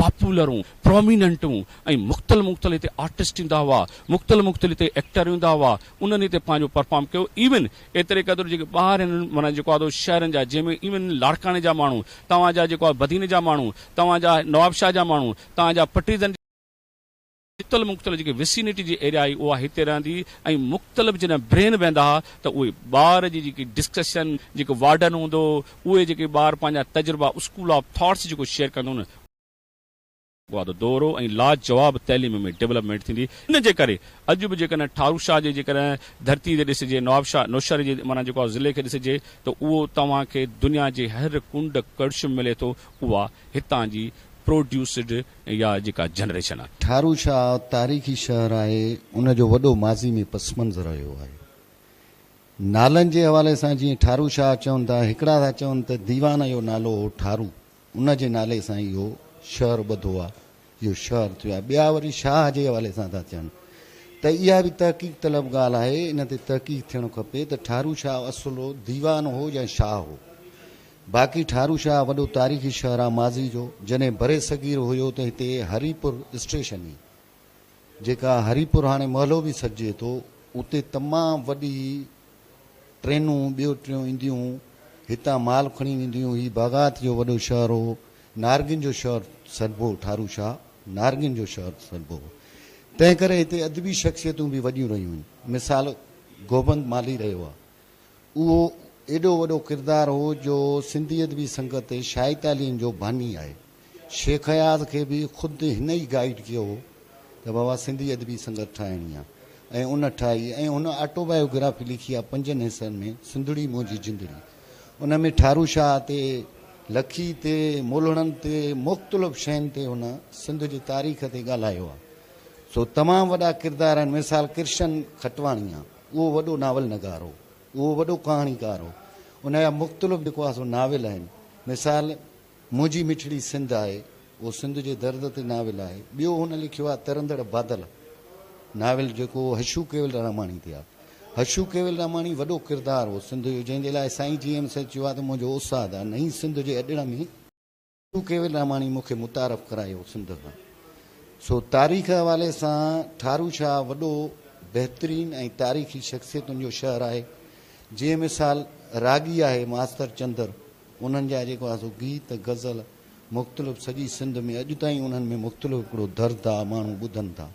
پاپولرون، پروميننٽون ۽ مختلف مختلف هتي آرٽسٽ ايندا هئا، مختلف مختلف هتي ايڪٽر ايندا هئا، انهن هتي پنهنجو پرفارم ڪيو، ايون ايتري قدر جيڪي ٻاهر هن معنيٰ جيڪو آهي سو شهرن جا جنهن ۾ ايون لاڙڪاڻي جا ماڻهو، توهان جا جيڪو آهي بدين جا ماڻهو، توهان جا نوابشاهه جا ماڻهو، توهان جا پٽيدن جا. جتل مختلف جيڪي وسينٽي جي ايريا آهي اها هتي رهندي هئي ۽ مختلف جڏهن برين ويندا ها ته اهي ٻار جي جيڪي ڊسڪشن جيڪو وارڊن هوندو هو اهي جيڪي ٻار پنهنجا تجربا اسڪول آف ٿاٽس جيڪو شيئر ڪندو هو نه وعدو دورو ۽ لاجواب تعليم ۾ ڊولپمينٽ ٿيندي ان جي ڪري اڄ به جيڪڏهن ٺاروشاه جي جيڪڏهن ڌرتي تي ڏسجي نوابشاه نوشهري جي معنيٰ جيڪو آهي ضلعي کي ڏسجي ته اهو توهان کي دنيا جي هر ڪنڊ ڪڙڇ ۾ ملي ٿو اها هتان جي پروڊيوسڊ اها جيڪا جنريشن آهي. ٺارو شاهه تاريخي شهر آهي، ان جو وڏو ماضي ۾ پس منظر رهيو آهي. نالن جي حوالي سان جيئن ٺارو شاهه چون ٿا، هڪڙا ٿا چون ته ديوان جو نالو هو ٺارو، ان جي نالي سان ئي اهو شهر ٻڌو آهي، اهو شهر ٿيو آهي. ٻيا وري شاهه جي حوالي سان ٿا چون ته اها به تحقيق طلب ڳالهه آهي، ان تي تحقيق ٿيڻ کپي ته ٺارو شاهه اصل ديوان هو يا شاهه هو؟ باقي ٺارو شاهه وڏو تاريخي شهر آ ماضي جو جڏهن برصغير هيو ته هتي هري پور اسٽيشن هي جيڪا هري پور هاڻي محلو به سڏجي ٿو اتي تمام وڏي ٽرينون ٻيو ٽريون اينديون هتان مال کڻي وينديون هي باغات جو وڏو شهر هو نارنگين جو شهر سڏبو ٺارو شاهه نارنگين جو شهر سڏبو هو تنهن ڪري هتي ادبي شخصيتون به وڏيون رهيون آهن مثال گوبند مالهي رهيو آ اهو ايڏو وڏو ڪردار هو جو سنڌي ادبي سنگت تي شاهي تعليم جو باني آهي. شيخ اياز کي به خود هن ئي گائيڊ ڪيو هو ته بابا سنڌي ادبي سنگت ٺاهڻي آهي ۽ ان ٺاهي ۽ هن آٽوبايوگرافي لکي آهي پنجن حصن ۾ سنڌڙي منهنجي جندڙي ان ۾ ٺارو شاهه تي لکي تي مولهڙن تي مختلف شين تي هن سنڌ جي تاريخ تي ڳالهايو آهي سو تمام وڏا ڪردار آهن مثال ڪرشن کٽواڻيان. اهو وڏو ناول نگار هو، اهو وڏو ڪهاڻيڪار هو. ان جا مختلف جيڪو آهي سو ناول آهن. مثال منهنجي مٺڙي سنڌ آهي، اهو سنڌ جي درد تي ناول آهي. ٻيو هن لکيو آهي ترندڙ بادل ناول جيڪو هشو ڪيولراماڻي تي آهي. هشو ڪيولراماڻي وڏو ڪردار هو سنڌ جو جنهن جي لاء سائين جي ايم سيد چيو آهي ته منهنجو استاد آهي نئين سنڌ جي اڏڙ ۾. ٽو ڪيول راماڻي مون کي متعارف ڪرايو سنڌ کان سو تاريخ حوالي سان ٺارو شاهه وڏو بهترين ۽ تاريخي شخصيتن جو شهر آهي جي مثال راڳي آهي ماستر چندر انهن جا جيڪو آهي سو گيت غزل مختلف سڄي سنڌ ۾ اڄ تائين انهن ۾ مختلف هڪڙو درد آهي ماڻهو ٻڌن ٿا.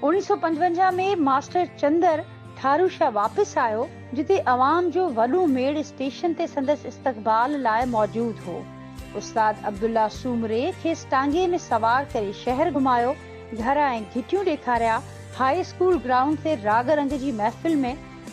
اوڻيھ سؤ پنجونجاھ ۾ ماسٽر چندر ٺاروشا واپس آيو، جتي عوام جو وڏو ميڙ اسٽيشن تي سندس استقبال لاء موجود هو. استاد عبدالله سومري کيس ٽانگي ۾ سوار ڪري شهر گهمايو، گهر ۽ گهٽيون ڏيکاريا، هاء اسڪول گرائونڊ تي راڳ رنگ جي محفل ۾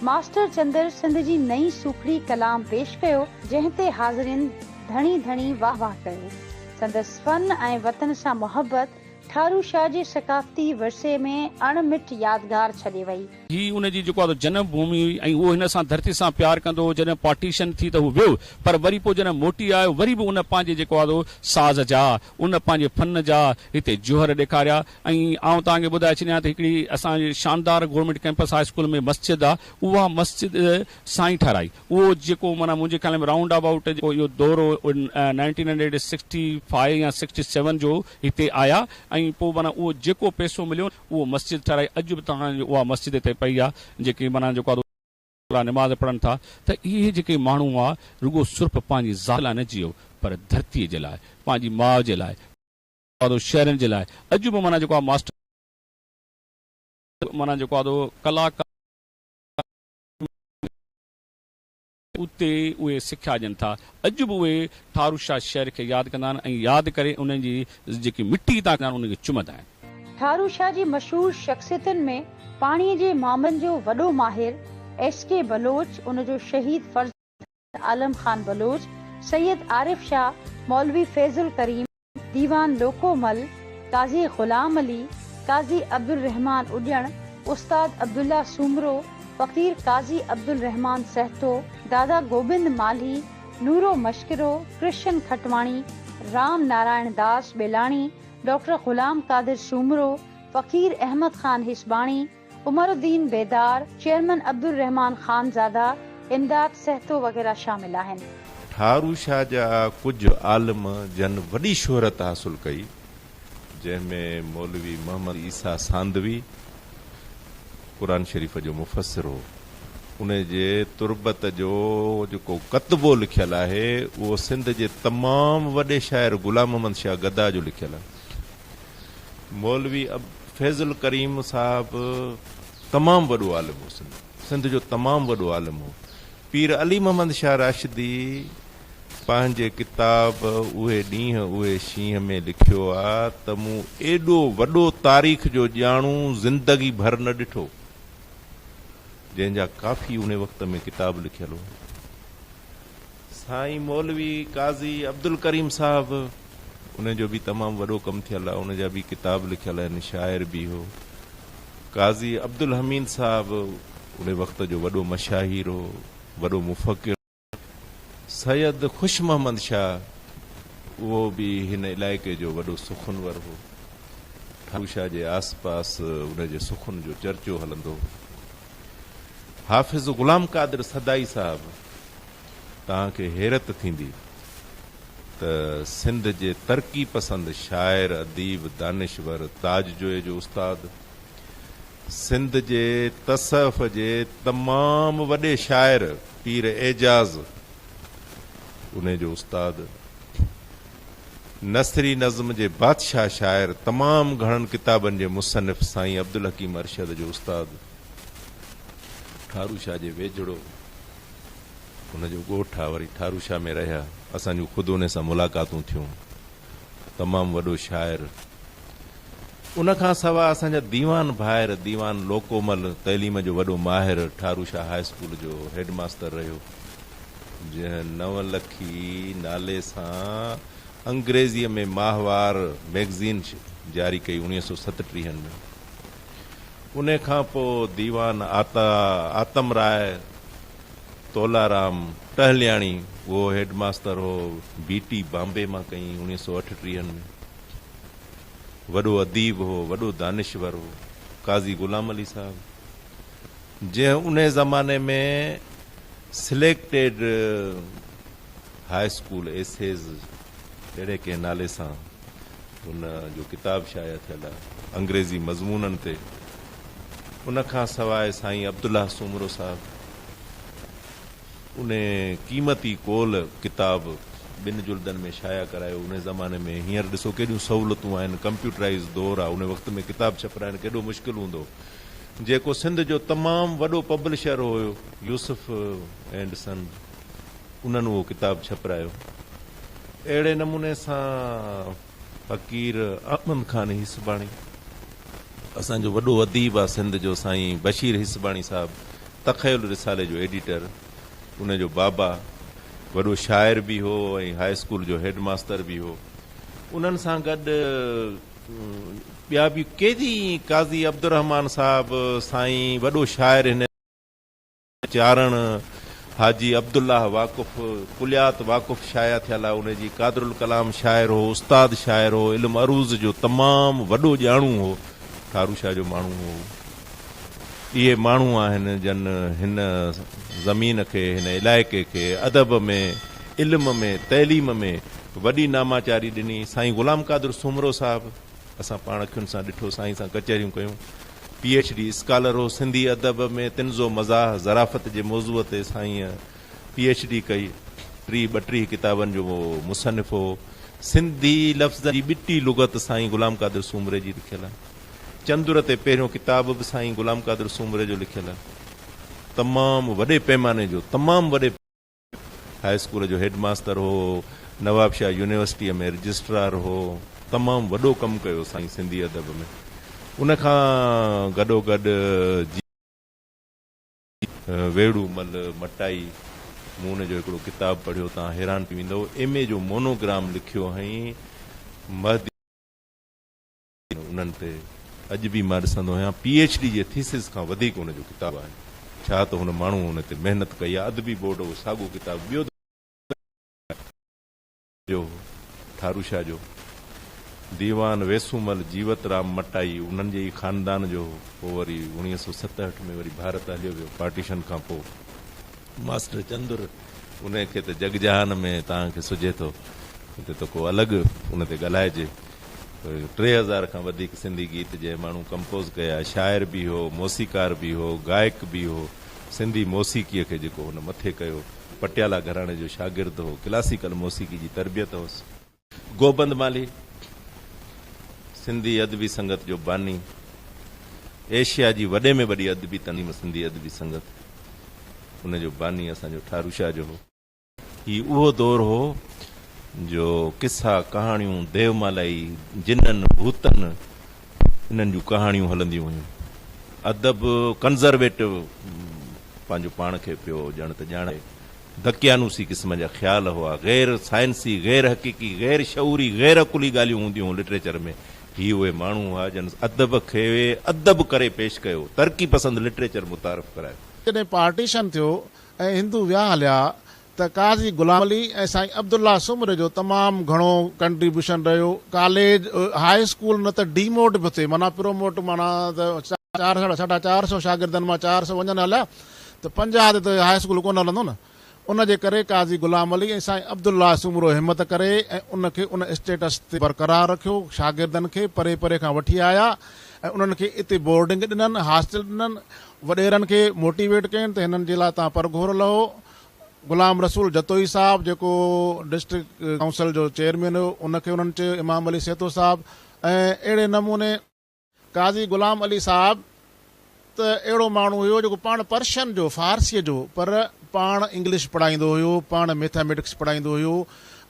ماسٽر چندر سنڌ جي نئين سوکڙي ڪلام پيش ڪيو، جنهن تي حاضرين ڌڻي ڌڻي واهه واهه ڪيو، سندس فن ۽ وطن سان محبت، ٺارو شاهه جي ثقافتي ورثي ۾ اڻ مٽ يادگار ڇڏي وئي. هي ان جي جيڪو آهي سو جنم ڀومي هئي ۽ اهو هن سان ڌرتي سان پيار ڪندو هو، جڏهن پارٽيشن ٿي ته هو ويو پر وري پوء جڏهن موٽي آيو وري به ان پنهنجي جيڪو آهي سو ساز جا ان پنهنجي فن جا هتي جوهر ڏيکاريا ۽ آئون توهان کي ٻڌائي ڇڏيان ته هڪڙي اسان جي شاندار گورنمينٽ ڪيمپس هاء اسڪول ۾ مسجد آهي اها مسجد سائين ٺهرائي. اهو جيڪو معنيٰ منهنجي خيال ۾ رائونڊ ابائوٽ جيڪو اهو دور هو اهو نائنٽين هنڊريڊ سڪسٽي فائيو يا سڪسٽي سيون جو هتي آيا ۽ پوء معنيٰ اهو جيڪو پئسو مليو اهو مسجد ٺهرائي اڄ به توهان جي اها مسجد هتي پئي آ جيڪي معنيٰ جيڪو آ سو نماز پڙهن ٿا ته اهي جيڪي ماڻهو هئا رڳو صرف پنهنجي ذات لاء نه جيئو پر ڌرتي جي لاء پنهنجي ماء جي لاء جيڪو آ شهرين جي لاء اڄ به معنيٰ جيڪو آ ماسٽر معنيٰ جيڪو آ ڪلاڪار. اتي اهي سکيا ڏين ٿا. اڄ به اهي ٺارو شاهه شهر کي ياد ڪندا آهن ۽ ياد ڪري انهن جي جيڪي مٽي هتان ڪندا آهن انهن کي چمندا آهن. ٺارو شاهه جي مشهور شخصيتن ۾ پاڻي جي معامن جو وڏو ماهر ايس ڪي بلوچ، ان جو شهيد فرزند، عالم خان بلوچ، سيد عارف شاهه، مولوي فيض الڪريم، ديوان لوڪو مل، قاضي غلام علي، قاضي عبدالرحمان اڏيڻ، استاد عبدالله سومرو، فقير قاضي عبدالرحمان سهتو، دادا Gobind Malhi, Noro Mashkaro, Krishan Khatwani, Ram Narayan Das Belani, doctor Ghulam Qadir Soomro, Faqir Ahmed Khan Hisbani, Umaruddin Bedar, chairman Abdurrahman Khanzada, Imdad Sahto وغيره شامل آهن. ٺارو شاهه جا ڪجهه عالم جن وڏي شهرت حاصل ڪئي، جنهن ۾ مولوي محمد عيسيٰ ساندوي قرآن شريف جو مفسر هو. ان جي تربت جو جيڪو ڪتبو لکيل آهي، اهو سنڌ جي تمام وڏي شاعر غلام محمد شاهه گدا جو لکيل آهي. مولوي فيض الڪريم صاحب تمام وڏو عالم هو سنڌ سنڌ جو تمام وڏو عالم هو پير علي محمد شاهه راشدي پنهنجي ڪتاب اهي ڏينهن اهي شينهن ۾ لکيو آ ته مون ايڏو وڏو تاريخ جو ڄاڻو زندگي ڀر نه ڏٺو جنهن جا ڪافي ان وقت ۾ ڪتاب لکيل هئا سائين مولوي قاضي عبدالڪريم صاحب ان جو به تمام وڏو ڪم ٿيل آ ان جا به ڪتاب لکيل آهن شاعر به هو قاضي عبدالحميد صاحب ان وقت جو وڏو مشاهير هو وڏو مفڪر سيد خوش محمد شاهه اهو به هن علائقي جو وڏو سخنور هو ٺاڪر شاهه جي آس پاس ان جي سخن جو چرچو هلندو هو حافظ غلام قادر سدائي صاحب توهان کي حيرت ٿيندي ته سنڌ جي ترقي پسند شاعر اديب دانشور تاج جويي جو استاد سنڌ جي تصوف جي تمام وڏي شاعر پير اعجاز انهي جو استاد نثري نظم جي بادشاهه شاعر تمام گهڻن ڪتابن جي مصنف سائين عبدالحڪيم ارشد جو استاد ٺارو شاهه جي ويجهڙو هو ان جو ڳوٺ آ وري ٺارو شاهه ۾ رهيا اسان جون خود انهي سان ملاقاتون ٿيون تمام وڏو شاعر ان کان سوا اسان جا ديوان ڀائر ديوان لوڪومل تعليم جو وڏو ماهر ٺارو شاهه هاء اسڪول جو هيڊ ماستر رهيو. جنهن نو لکي نالي سان انگريزيء ۾ ماهوار مئگزين جاري ڪئي اوڻيهه سؤ ستٽيهن ۾ ان کان پوء ديوان آتا آتم راء تولارام ٽهلياڻي اهو هيڊ ماستر هو بي ٽي بامبي مان ڪئي اوڻيهه سؤ اٺٽيهن ۾ وڏو اديب هو وڏو دانشور هو قاضي غلام علي صاحب جنهن انهي زماني ۾ سليڪٽيڊ هاء اسڪول ايسيز اهڙي ڪنهن نالي سان هن جو ڪتاب شايع ٿيل آهي انگريزي مضمونن تي ان کان سواء سائين عبدالله سومرو صاحب انهي قيمتي قول ڪتاب ٻن جلدن ۾ شايع ڪرايو انهي زماني ۾ هينئر ڏسو ڪيڏيون سهولتون آهن ڪمپيوٽرائيز دور آهي انهي وقت ۾ ڪتاب ڇپرائڻ ڪيڏو مشڪل هوندو جيڪو سنڌ جو تمام وڏو پبلشر هيو يوسف اينڊ سنز انهن اهو ڪتاب ڇپرايو. اهڙي نموني سان فقير احمد خان هيسباڻي اسان جو وڏو اديب آ سنڌ جو سائين بشير هيسباڻي صاحب تخيل رسالي جو ايڊيٽر ان جو بابا وڏو شاعر به هو ۽ هاء اسڪول جو هيڊ ماستر به هو انهن سان گڏ ٻيا به ڪيتري ئي قاضي عبدالرحمان صاحب سائين وڏو شاعر هن چارڻ حاجي عبدالله واقف ڪليات واقف شايع ٿيل آهي ان جي قادرالڪلام شاعر هو استاد شاعر هو علم عروض جو تمام وڏو ڄاڻو هو ٺارو شاهه جو ماڻهو هو اهي ماڻهو آهن جن هن زمين کي هن علائقي کي ادب ۾ علم ۾ تعليم ۾ وڏي ناماچاري ڏني. سائين غلام قادر سومرو صاحب اسان پاڻ اکين سان ڏٺو، سائين سان ڪچهريون ڪيون. پي ايڇ ڊي اسڪالر هو. سنڌي ادب ۾ طنز و مزاح، ظرافت جي موضوع تي سائينء پي ايڇ ڊي ڪئي. ٽيهه ٻٽيهه ڪتابن جو مصنف هو. سنڌي لفظن جي ٻٽي لغت سائين غلام قادر سومري جي لکيل. چندر تي پهريون ڪتاب به سائين غلام قادر سومري جو لکيل. تمام وڏي پيماني جو تمام وڏي. هاء اسڪول جو هيڊ ماستر هو، نوابشاهه يونيورسٽيء ۾ رجسٽرار هو، تمام وڏو ڪم ڪيو سائين سنڌي ادب ۾، ان کان گڏوگڏ جي. ويڙهو مل مٽائي، مون ان جو هڪڙو ڪتاب پڙهيو، توهان حيران ٿي ويندؤ، ايم اي جو مونو گرام لکيو هئائين، مهدي. انهن تي اڄ به مان ڏسندو آهيان پي ايڇ ڊي جي ٿيسز کان وڌيڪ ان جو ڪتاب آهن ڇا ته هن ماڻهوء ان تي محنت ڪئي آهي ادبي بورڊ اهو ساڳو ڪتاب ٻيو دفعو جو هو ٺارو شاهه جو ديوان ويسومل جيوت رام مٽائي انهن جي ئي خاندان جو هو پوء وري اوڻيهه سؤ ستهٺ ۾ وري ڀارت هليو ويو پارٽيشن کان پوء ماسٽر چندر، ان کي ته جڳ جهان ۾ تان کي سجهي ٿو، هتي ته ڪو الڳ ان تي ڳالهائجي. ٽي هزار کان وڌيڪ سنڌي گيت جنهن ماڻهو ڪمپوز ڪيا، شاعر به هو، موسيقار به هو، گائڪ به هو، سنڌي موسيقيء کي جيڪو هن مٿي ڪيو، پٽيالا گهراڻي جو شاگرد هو، ڪلاسيڪل موسيقي جي تربيت هوس. گوبند مالهي سنڌي ادبي سنگت جو باني، ايشيا جي وڏي ۾ وڏي ادبي تنظيم سنڌي ادبي سنگت ان جو باني اسان جو ٺارو شاهه جو هو. هي اهو دور هو جو قصا، ڪهاڻيون، ديومالائي، جنن، ڀوتن انهن جون ڪهاڻيون هلنديون هيون. ادب ڪنزرويٽو پنهنجو پاڻ کي پيو ڄڻ ته ڄاڻائي دقيانوسي قسم جا خيال هئا، غير سائنسي، غير حقيقي، غير شعوري، غير عقلي ڳالهيون هونديون هيون لٽريچر ۾. هي اهي ماڻهو هئا جن ادب کي ادب ڪري پيش ڪيو، ترقي پسند لٽريچر متعارف ڪرايو. جڏهن پارٽيشن ٿيو ۽ هندو ويا هليا ته قاضي غلام علي ۽ سائين عبدالله سومري جو تمام گهڻو ڪنٽريبيوشن رهيو. ڪاليج، هاء اسڪول نه ته ڊيموٽ به ٿئي معنيٰ پروموٽ معنيٰ ته چار ساڍا چار سئو شاگردن مان چار سئو وڃن هليا ته پنجاهه تي ته هاء اسڪول ڪونه هلندو نه. ان جي ڪري قاضي غلام علي ۽ سائين عبدالله سومرو همت ڪري ۽ ان کي ان اسٽيٽس تي برقرار رکيو. شاگردن کي پري پري کان وٺي آيا ۽ انهن کي اتي بورڊنگ ڏنن، هاسٽل ڏنن. وڏيرن کي موٽيويٽ ڪين ته هنن جي لاء توهان پر گهور لهو. غلام رسول جتوئي صاحب جيڪو ڊسٽرڪٽ ڪائونسل جو چيئرمين هيو ان کي انهن چيو، امام علي سيتو صاحب ۽ اهڙي نموني. قاضي غلام علي صاحب ته اهڙو ماڻهو هيو جيڪو پاڻ پرشن جو، فارسيء جو، پر پاڻ انگلش پڙهائيندو هيو، پاڻ ميٿاميٽڪس پڙهائيندو هيو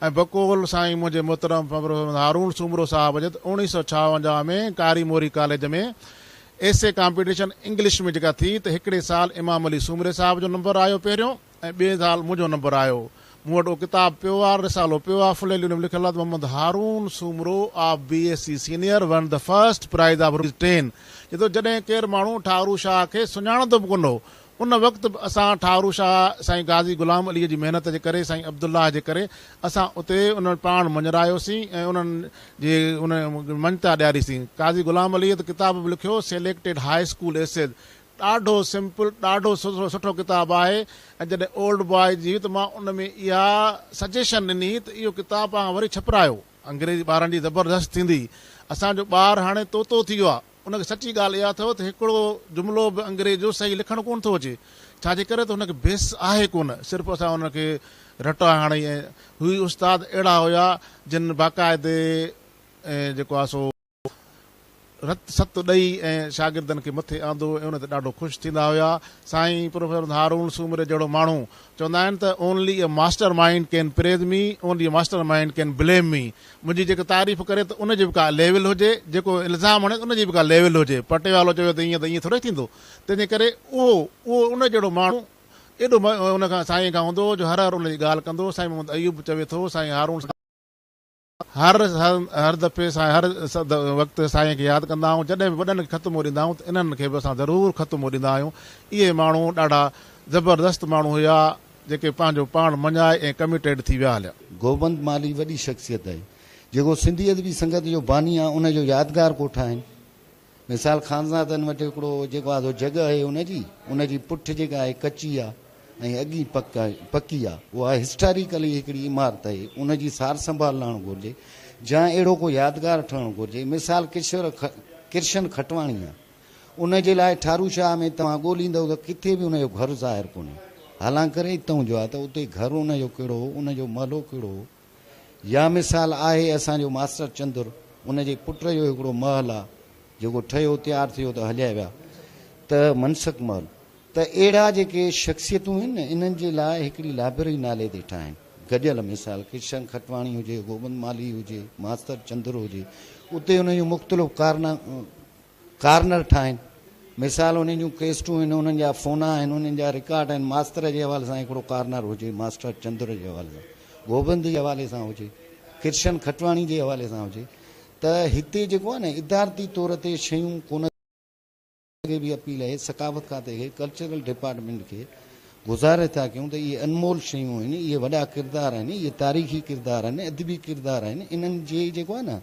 ۽ بقول سائين منهنجي محترم پروفيسر محمد هارون سومرو صاحب جت اوڻيهه سؤ ڇاونجاهه ۾ Kari Mori college ۾ essay competition English ۾ جيڪا ٿي ته هڪڙي سال امام علي سومري صاحب جو نمبر آيو پهريون ۽ ٻئي سال منهنجو نمبر آيو. مون وٽ اهو ڪتاب پيو آ، رسالو پيو آ، فليلي ان ۾ لکيل آ ته Muhammad Haroon Soomro of B S C senior won the first prize of rupees ten. چئي ٿو جڏهن ڪير ماڻهو ٺاهرو شاهه کي سڃاڻندو به ڪونه هو، ان وقت به اسان ٺاهرو شاهه سائين غازي غلام عليء جي محنت جي ڪري، سائين عبدالله جي ڪري اسان اتي انهن پاڻ مڃرايوسين ۽ انهن جي ان مڃتا ڏياريسين. قاضي غلام عليء ته ڪتاب به لکيو، سيليڪٽيڊ هاء اسڪول ايسيز، ڏاڍو سمپل ڏاڍو سٺو ڪتاب آهي ۽ جڏهن اولڊ باء جي هئي ته مان ان ۾ اها سجيشن ڏني ته اهو ڪتاب پاڻ وري ڇپرايو انگريزي ٻارن جي زبردست ٿيندي اسان جو ٻار هاڻي طوطو ٿي ويو آهي ان کي سچي ڳالهه اها اٿو ته هڪڙو جملو به انگريز جو صحيح لکڻ ڪونه ٿو اچي ڇا جي ڪري ته هن کي بيس آهي ڪونه صرف اسان ان کي رٽا هڻي ۽ هي استاد اهڙا هيا جن باقاعدي جيڪو آهي سو رت ست ڏئي ۽ شاگردن کي مٿي آندو ۽ ان تي ڏاڍو خوش ٿيندا هيا. سائين پروفيسر هارون سومري جهڙو ماڻهو، چوندا آهن ته Only a master mind can praise me، Only a master mind can blame me، منهنجي جيڪو تعريف ڪري ته ان جي به ڪا ليول هجي، جيڪو الزام هڻي ته ان جي به ڪا ليول هجي، پٽيوالو چوي ته ائين ته ائين ٿورئي ٿيندو، تنهن جي ڪري اهو اهو ان جهڙو ماڻهو ايڏو ان کان سائين کان هوندو هو جو هر هر ان جي ڳالهه ڪندو هو، سائين محمد ايوب چوي ٿو سائين هارون. هر هر دفعي سان هر وقت سائين کي ياد ڪندا آهيون جڏهن به وڏن کي خط موڙيندا آهيون ته انهن کي به اسان ضرور خط موڙيندا آهيون اهي ماڻهو ڏاڍا زبردست ماڻهو هيا جيڪي پنهنجو پاڻ مڃائي ۽ ڪميٽيڊ ٿي ويا هليا. گوبند مالهي وڏي شخصيت آهي جيڪو سنڌي ادبي سنگت جو باني آهي ان جو يادگار ڪو ٺاهين مثال خانزادن وٽ هڪڙو جيڪو آڌو جڳهه آهي ان جي ان جي پٺ جيڪا آهي ڪچي آهي ۽ اڳي پڪ آهي پڪي آهي اها هسٽاريڪلي هڪڙي عمارت آهي ان جي سار سنڀال لهڻ گهرجي جا اهڙو ڪو يادگار ٺهڻ گهرجي مثال ڪشور ڪرشن کٽواڻي آهي ان جي لاء ٺارو شاهه ۾ توهان ڳوليندو ته ڪٿي به ان جو گهر ظاهر ڪونهي حالانڪري اتئون جو آهي ته اتي گهر ان جو ڪهڙو هو ان جو محلو ڪهڙو هو يا مثال آهي اسان جو ماستر چندر ان جي پٽ جو هڪڙو محل آ جيڪو ٺهيو تيار ٿيو ته هليا ويا ته منسڪ محل ته اهڙا جيڪي شخصيتون هين نه انهن جي لاء هڪڙي لائبرري نالي تي ٺاهين گڏيل مثال ڪرشن کٽواڻي هجي گوبند مالهي هجي ماستر چندر هجي اتي انهن جون مختلف ڪارنا ڪارنر ٺاهين. مثال انهن جون ڪيسٽون آهن، انهن جا فونا آهن، انهن جا رڪارڊ آهن، ماستر جي حوالي سان هڪڙو ڪارنر هجي، ماسٽر چندر جي حوالي سان، گوبند جي حوالي سان هجي، ڪرشن کٽواڻي جي حوالي سان هجي ته هتي جيڪو آهي نه ادارتي طور تي شيون ڪونه اڳي به اپيل اهي ثقافت کاتي کي ڪلچرل ڊپارٽمينٽ کي گذارش ٿا ڪيون ته اهي انمول شيون آهن اهي وڏا ڪردار آهن اهي تاريخي ڪردار آهن ادبي ڪردار آهن انهن جي جيڪو آهي نه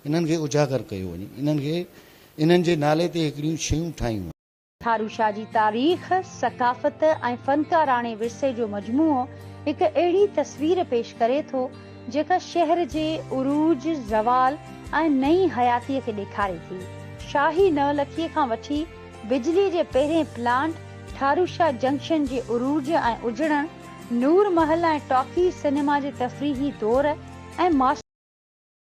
انهن کي اجاگر ڪيو وڃي. انهن کي انهن جي نالي تي هڪڙيون شيون ٺاهيون وڃن. ٿارو شاهه جي تاريخ، ثقافت ۽ فنڪاراڻي ورثي جو مجموعو هڪ اهڙي تصوير پيش ڪري ٿو، جيڪا شهر جي عروج، زوال ۽ نئين حياتيء کي ڏيکاري ٿي. شاهي نو لکيء کان وٺي بجليء جي پهرين پلانٽ، ٿارو شاهه جنڪشن جي عروج ۽ اجڙڻ، نور محل ۽ ٽاڪيز سئنيما جي تفريحي دور ۽ ماستر.